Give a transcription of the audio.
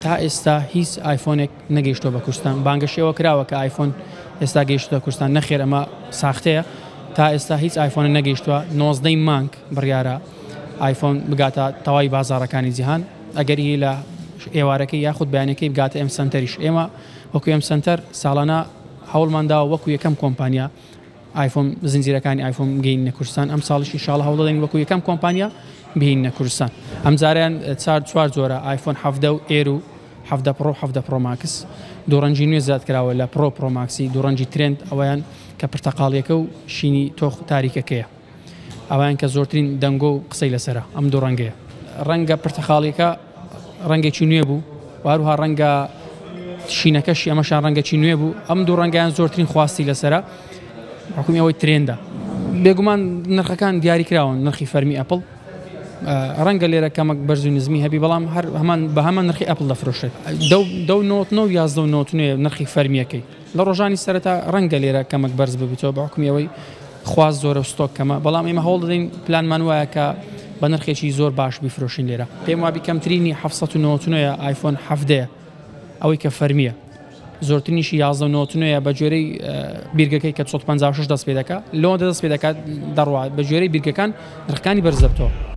تا ئێستا هیچ ئایفۆنێک نەگەیشتووە بە کوردستان، بانگەشەی ئەوە کراوە کە ئایفۆن ئێستا گەیشتووە کوردستان، نەخێر ئەمە ساختەیە، تا ئێستا هیچ ئایفۆنێک نەگەیشتووە، نۆزدە ی مانگ بڕیارە ئایفۆن بگاتە تەواوی بازاڕەکانی جیهان، ئەگەریی لە ئێوارەکەی یاخود بەیانیەکەی بگاتە ئێم سەنتەریش، ئێمە وەکو ئێم سەنتەر ساڵانە هەوڵمانداوە وەکو یەکەم کۆمپانیا، ئایفۆن زنجیرەکانی ئایفۆن بگەینە کوردستان ئەمساڵیش ئینشاڵڵا هەوڵ دەدەین وەکو یەکەم کۆمپانیا بهینە کوردستان ئەمجاریان چار چوار جۆرە ئایفۆن حەڤدە و ئێر و حەڤدە پڕۆ حەڤدە پڕۆ ماکس دوو ڕەنجی نوێ زیاد کراوە لە پڕۆ پڕۆ ماکسی دوو ڕەنجی ترند ئەویان کە پرتەقاڵیەکە و شینی تۆخ تاریکەکەیە ئەوان کە زۆرترین دەنگۆ و قسەی لەسەرە ئەم دوو ڕەنگەیە. ڕەنگە پرتەقاڵیەکە ڕەنگێکی نوێ بوو و هەروها ڕەنگە شینەکەشی ئەمەشان ڕەنگەکی نوێ بوو ئەم دوو ڕەنگیان زۆرترین خواستی لەسرە حکومی ئەوەی ترێندە بێگومان نرخەکان دیاری کراون نرخی فەرمی ئەپل ڕەنگە لێرە کەمەک بەرز و نزمی هەبی بەڵام هەر هەمان بە هەمان نرخی ئەپل دەفرۆشێت دە نۆ یازدە نۆ نرخی فەرمیەکەی لە ڕۆژانی سەرەتا ڕەنگە لێرە کەمەک بەرز ببیتەوە بە حوکمی ئەوەی خواست زۆرە و ستۆک کەمە، بەڵام ئێمە هەوڵ دەدەین پلانمان وایە کە بە نرخێکی زۆر باش بیفرۆشین لێرە. پێم وابی کەمترینی حەفت سەد و نەوەت و نۆ یە ئایفۆن حەڤدە یە ئەوەی کە فەرمیە زۆرترینیشی یازدە و نەوەت و نۆ یە بە گوێرەی بیرگەکەی کە دوو سەد و پەنجا و شەش دەست پێ دەکا لەوەندە دەست پێ دەکا دەڕوا بە گوێرەی بیرگەکان نرخەکانی بەرز دەبتەوە.